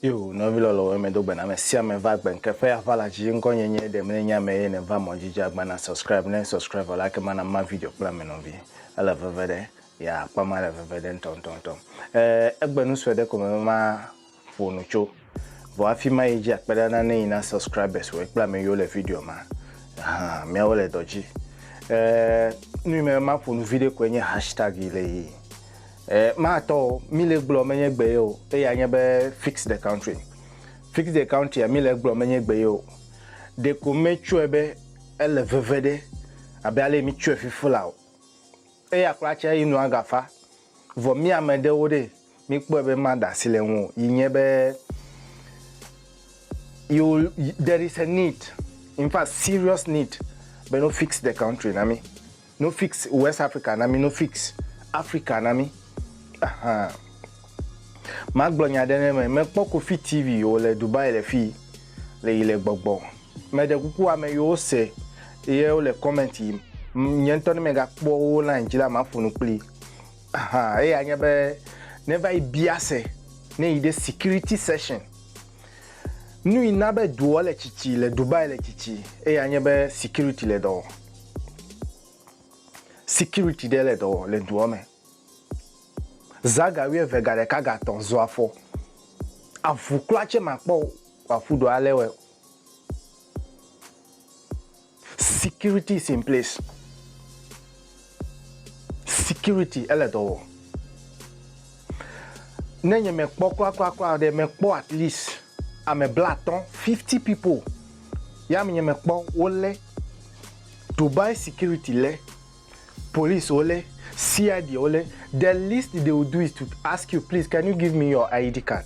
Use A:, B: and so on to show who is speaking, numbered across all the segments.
A: Yo, nɔvi lɔlɔwo eme do gbena ame sia ame va gbe nke ƒe aƒa la dzi ŋkɔ nye nye ɖem ne nye ame ye ne va mɔ dzi agba na subscribe ne subscribe la ke mana ma video kple ame nɔvi ele veve ɖe ya akpa ma le veve ɖe ntɔntɔntɔ eh, egbe nu sue ɖe ko me ma ƒo nu tso. Vɔ afi ma yi dzi akpeɖana ne yi na subscribers wòe kple ame yiwo le video ma. Hã, miawo le dɔ dzi. E, nu yi me ma ƒo nu viɖe koe nye hashtag yi le yi. E, ma tɔ o, mi le gblɔ menye gbe ye o, eya nye be fix the country. Fix the country a mi le gblɔ menye gbe ye o. Ɖeko me tsɔe be ele veve ɖe abe ale mi tsɔe fifi la o. Eya kpla tse yi nua gafa. Vɔ mi ame ɖewo ɖe Míkpɔe be ema da asi le ŋu o yi nye be you there is a need in fact serious need be no fix the country na mi no fix West Africa na mi no fix Africa na mi ahan ma gblɔ nya ɖe ne me me kpɔ Kofi TV o le Dubai le fi le yi le gbɔgbɔ me ɖe kuku ame yi wo se ye wo le comment yi nye ŋutɔ ne me ga kpɔ wo line dzi la ma ƒo nu kpli Aha, eya nye be ne va yi bia se, ne yi ɖe security session, nu yi na be doa le tsitsi le Dubai le tsitsi, eya nye be security le dɔ wɔ. Security ɖe le dɔ wɔ le doa me. Za ga wuieve ga ɖeka ga tɔ̃ zɔ afɔ. Avu kpla tse ma kpɔ wòaƒu ɖo ale wɔe o. Security is in place. Security ele dɔ wɔm. Ne nye mekpɔ kurakurakura ɖe mekpɔ at least ame blatɔ fifty people ya me nye mekpɔ wole Dubai security le police wole CID wole the least they will do is to ask you please can you give me your ID card.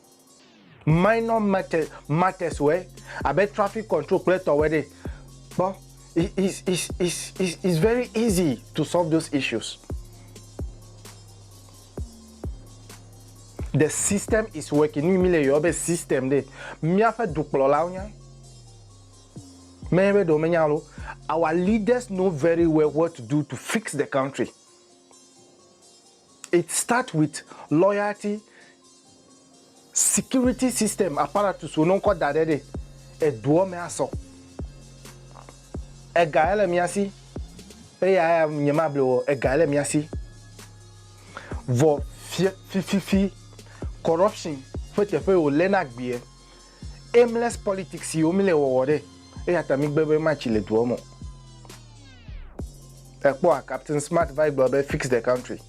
A: Minor matters matters wɔe abe traffic control kple etɔwo ɖe kpɔ is is is is is very easy to solve those issues the system is working nu yi mi le yɔ be system ɖe miaƒe dukplɔlawo nya mɛ be ɖewo menya lo our leaders know very well what to do to fix the country. It start with loyalty security system apparatus wo ne wokɔ da ɖe ɖe eduɔ me asɔ. Ega ele mía si eya ya nye ma ble wɔ ega ele mía si. Vɔ fie fififi corruption ƒe teƒe wo le na gbeɛ. Aimless politics yi wo mi le wɔwɔ ɖe eya ta mi gbe be ma tsi le duɔ me o. Ekpɔ a captain smart va yi gblɔ be fix the country.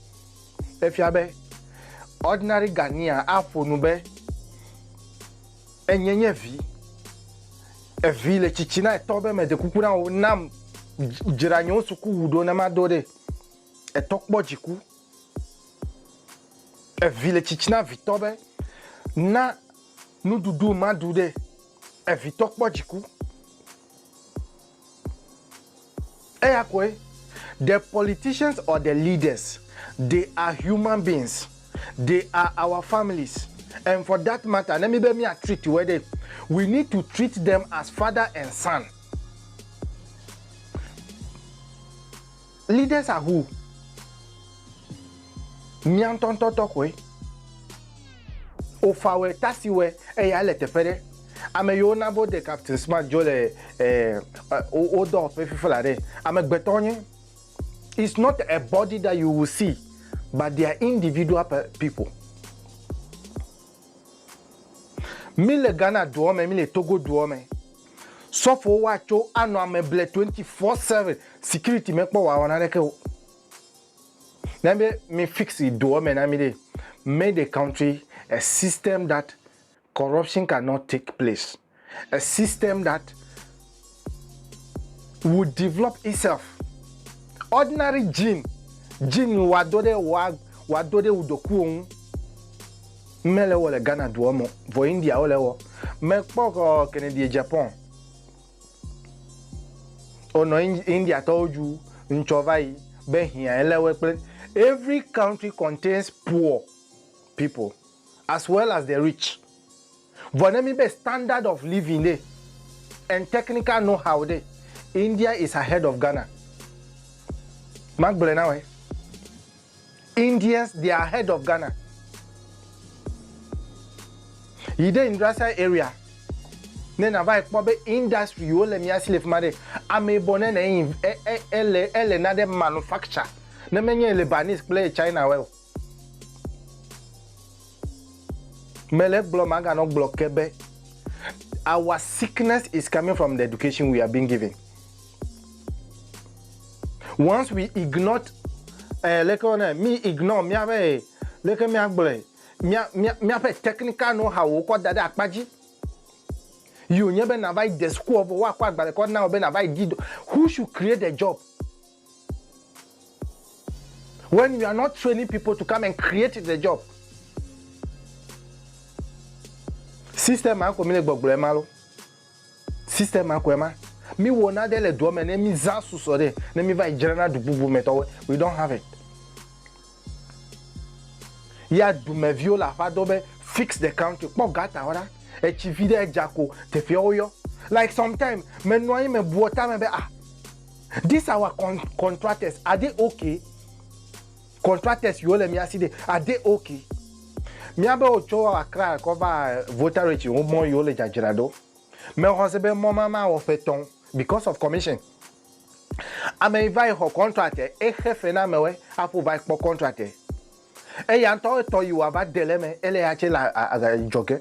A: Efia be ordinary Ghanea a ƒo nu be enye nye vi. Evi le tsitsi na etɔ be mede kuku na wo nam dzra nye wo suku wu ɖo ne ma do ɖe. Etɔ kpɔ dziku. Evi le tsitsi na vitɔ be, Na nuɖuɖu maɖu ɖe. Evitɔ kpɔ dziku. Eya koe. The politicians or the leaders, they are human beings. They are our families. And for that matter, ne míbe mía treat woe ɖe, we need to treat them as father and son. Leaders are who? Mía ŋutɔŋutɔ tɔxɔe. Wofawɔe, tasiwɔe, eya ele teƒe ɖe. Ame yiwo na be Captain Smart dzo le wo dɔwɔƒe fifi la ɖe, amegbetɔ wonye. It's not a body that you will see but they are individual people. Mí le Ghana duɔ me, mí le Togo duɔ me. Sɔfowo wa tso anɔ ame ble 24/7 security me kpɔ wa wɔna ɖeke o. Nenye be mi fix doɔ me na mi ɖe made a country a system that corruption can not take place a system that would develop itself ordinary gene gene wa do ɖe wa wa do ɖe wo ɖokuiwo ŋu. Mɛ le wɔ le Ghana duɔ mɔ, vɔ India wo le wɔ. Mɛ kpɔ ɔ Kennedy e Japan o nɔ India tɔwo ju ŋtsɔ vayi be hiã e le wɛ kple Every country contains poor people as well as the rich. Vɔ ne mi be standard of living ɖe and technical know how ɖe, India is ahead of Ghana. Ma gblɔɛ na wɛ. Indians they are ahead of Ghana yi ɖe industrial area ne na va ekpɔ be industry yiwo le mia si le fima ɖe ame yibɔ ne ne ele ele na ɖe manufacture ne me nye Lebanese kple China wɛ o me le gblɔ ma ganɔ gblɔ ke be our sickness is coming from the education we are being given. Once we ignored, eh, leke wona mi ignore miaƒe leke miagblɔe mia mia miaƒe technical know how wokɔ da ɖe akpa dzi. Yi wònye be nava yi de sukua vɔ woakɔ agbalẽ kɔ na wò be nava yi di do. Who should create the job? When you are not training people to come and create the job. System ma ko mi le gbɔgblɔ ema lo. Système koe ma. Mi wɔ nane le doa me ne mi zã susɔ ɖe ne mi va yi dzrana du bubu me tɔwoe. We don't have it. Ya dumɛ viwo le aƒa dɔ be fix the country. Kpɔ gutter wo ɖa. Etsi vi ɖe edza ko teƒea wo yɔ. Like sometime me nɔ anyi me bua ta me be ah this our con contractors are they okay? Contractors yiwo le mía si ɖe ade oke mía be wo tso Accra kɔ va Voltarech wo mɔ yiwo le dzadzra ɖo. Me xɔ se be mɔ ma ma wɔ ƒe tɔn because of commission. Ame yi va yi xɔ contract e xe fe na amewe aƒo va yi kpɔ contract e. Eya ŋutɔ etɔ yi wa va de le me ele ya tse le adzɔge.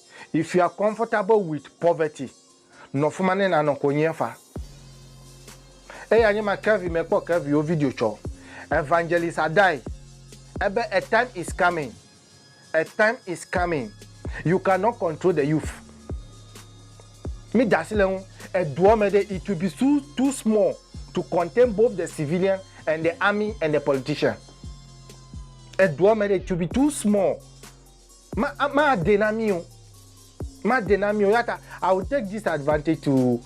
A: If you are comfortable with poverty, nɔ fima ne nanɔ konyi efa. Eya nye ma Kevin me kpɔ Kevin wo video tsɔ Evangelist Adai ebe a time is coming, a time is coming you can not control the youth. Mi dasi le ŋu eduɔ me ɖe it will be too too small to contain both the civilian and the army and the politician. Eduɔ me ɖe it will be too small Ma, made na mí o. Made na mí o. Eya ta, I will take this advantage to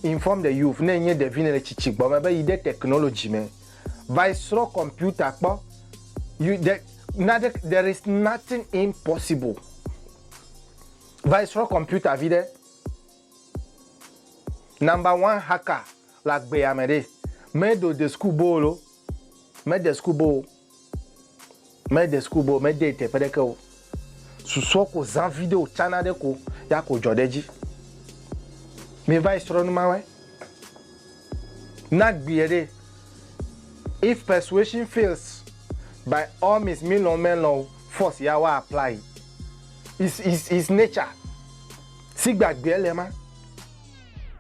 A: inform the youth, ne ènye ɖevi nèle tsitsi gbɔ me be yi ɖe technology me va yi srɔ̃ kɔmpiuta kpɔ. You, the, nane, there is nothing impossible. Va yi srɔ̃ kɔmpiuta viɖe. Number one hacker le agbea me ɖee. Meɖo de school boo lo. Mede school boo o. Mede school bɔ, mede yi teƒe ɖeke o. Susɔ ko zã viɖe o tsana ɖe ko ya ko dzɔ ɖe dzi. Mi va yi srɔ nu ma wɛ. Na gbi eɖe. If persuasion fails, by all means mi lɔn me lɔn o, force ya wa apply. Is is is nature. Sigbe agbe ele ma.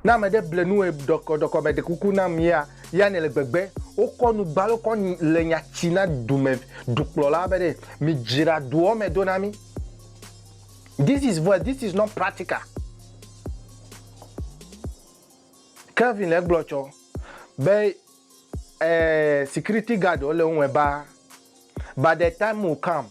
A: Ne ame ɖe ble nu ɖɔkɔɖɔkɔ me ɖe kuku nam ya, ya nele gbegbe. Wokɔ nu gbalo kɔ le nya tsi na dume dukplɔla be ɖe mi dzra duɔ me do na mi. This is voice, this is not practical. Kelvin le gblɔ tsɔ be eh, security guard le ŋue ba, but the time will come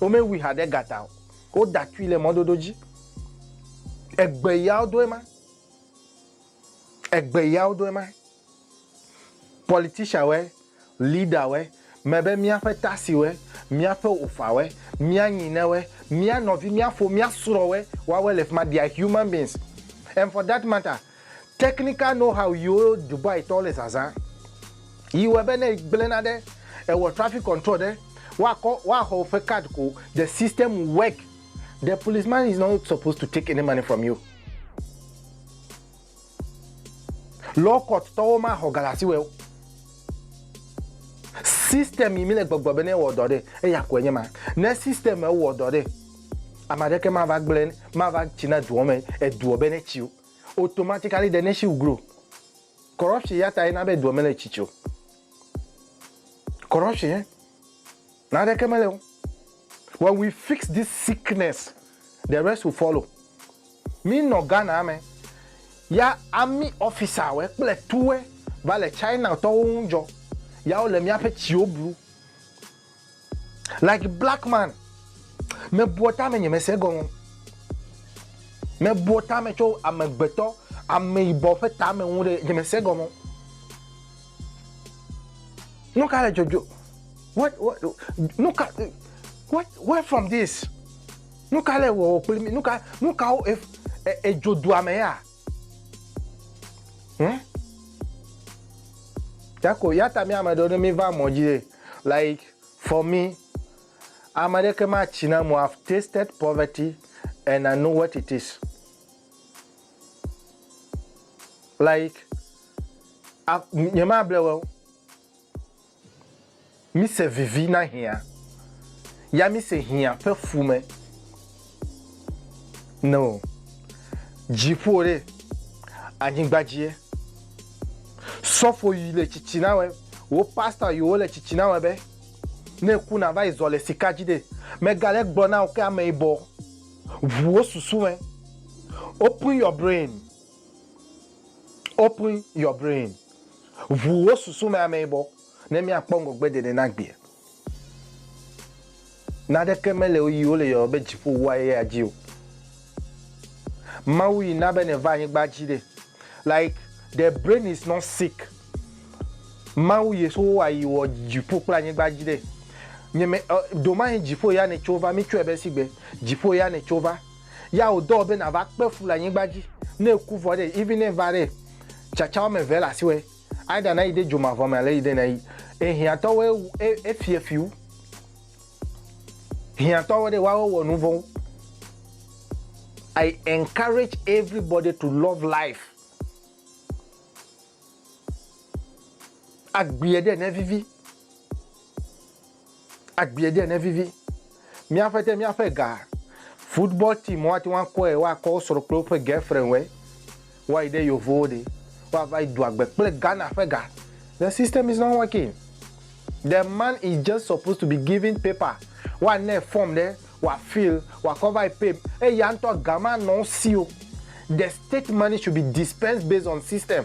A: Womewui haɖe gata o. Woda tui le mɔdodo dzi. Egbe yawo doe ma. Egbe yawo doe ma. Politician wɛ, leader wɛ, me be mía ƒe taxi wɛ, mía ƒe ofa wɛ, mía nyinɛ wɛ, mía nɔvi, mía fo, mía srɔ wɛ, woawɛ le fima. They are human beings and for that matter, Technical know-how yiwo Dubai tɔwo le zazã yi wɔe be ne egblẽ nane, ewɔ traffic control ɖe, woakɔ, woaxɔ woƒe card ko. The system will work. The policeman is not supposed to take any money from you. Law court tɔwo maxɔ ga le asiwò o. System yi mi le gbɔgblɔ be ne ewɔ dɔ ɖe, eya koe nye ma. Ne system ewɔ dɔ ɖe, ame aɖeke mava gblẽ, mava tsi na dua me, edua be ne tsi o. Automatically the nation will grow. Corruption ya tae na be dua mele tsitsi o. Corruption ye. Naneke mele o. When we fix this sickness, the rest will follow. Mi nɔ Ghana me, ya army officer we kple tu we va le China tɔwo ŋu dzɔ, ya wo le miaƒe tsiwo blu. Like black man, mebua tame nye mese egɔme. Mebua tame tso amegbetɔ, ameyibɔ ƒe tame ŋu ɖe nye mese egɔme. Nu ka le dzodzo? What, what, nu ka, what, where from this? Nu ka le wɔwɔ kpli mi? Nu ka, nu ka wo edzo dua me ya? Hm? Yako, yata mi ame ɖewo ne mi va mɔ dzi ye. Like for me, ame aɖeke matsi na mo. I've tasted poverty and I know what it is. Like, nye ma ble wo. Mi se vivi na hia. Ya mi se hia pe fume. No. Dziƒo ɖe anyigba dzie. Sɔfo yi le tsitsi na wɛ, wo pastor yi wo le tsitsi na wɛ be, ne ku na va yi zɔ le sika dzi ɖe, me ga le gblɔ na wo ke ame yibɔ ʋu wo susu me. Open your brain. Open your brain. Ʋu wo susu me ame yibɔ ne mia kpɔ ŋgɔgbe ɖeɖe na gbea. Naɖeke mele wo yi wole yɔyɔ be dziƒo wu ayaya dzi o. Mawu yi na be nèva anyigba dzi ɖe. Like the brain is not sick. Mawu Yehowa yi wɔ dziƒo kple anyigba dzi ɖe. Nye me ɔ, domahin dziƒo ya nètso va, mitsɔe be sigbe dziƒo ya nètso va. Ya wòdɔ wò be nàva kpe fu le anyigba dzi. Ne èku vɔ ɖe, even ne èva ɖe, tsatsa woame eve le asiwò. Aida na yi de dzomavɔ me ale yi de na yi. E hiãtɔwo e e e fie fiu. Hiãtɔwo ɖe wa wɔ nu vɔn. I encourage everybody to love life. Agbie ɖe ne vivi. Agbee ɖe nevivi míaƒe te míaƒe ga. Football team woate ŋu akɔe woakɔ wo srɔ̃ kple woƒe girlfriend wɔe. Woayi ɖe yevowo ɖe woava yi do agbe kple Ghana ƒe ga. The system is not working. The man is just supposed to be given paper woanae form ɖe wòafill wòakɔ va yi pay eye ya ŋutɔ ga manɔ wo si o. The state money should be dispensed based on system.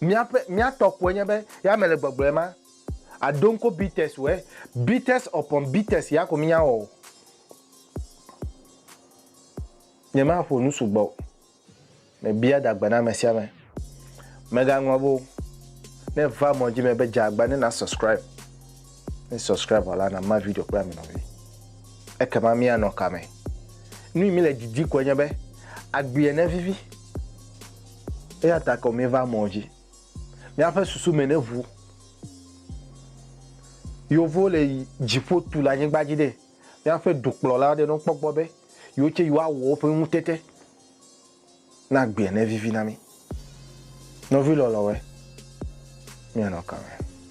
A: Míaƒe, mía tɔ koe nye be ya mele gbɔgblɔe ma. Ado ŋko Beatles wɔe. Beatles upon Beatles ya ko mía wɔ o. Nyema ƒo nu sugbɔ o. Me bia da gbe na ame sia ame. Mega ŋlɔ be o. Ne va mɔ dzi me be dza agba ne na subscribe. Ne subscribe wɔ la na ma video kple ame nɔvi. Ekema mía nɔ ka me? Nui mi le didi koe nye be agbea ne vivi. Eya ta kɔ míva mɔ dzi. Míaƒe susu me ne ʋu. Yeovo le yi dziƒo tu le anyigba dzi ɖe, míaƒe dukplɔla aɖe nɔ kpɔ gbɔ be yewo tsɛ yewoawɔ woƒe ŋutete na agbea ne vivi na mí. Nɔvi lɔlɔ̃woe, míanɔ ka me?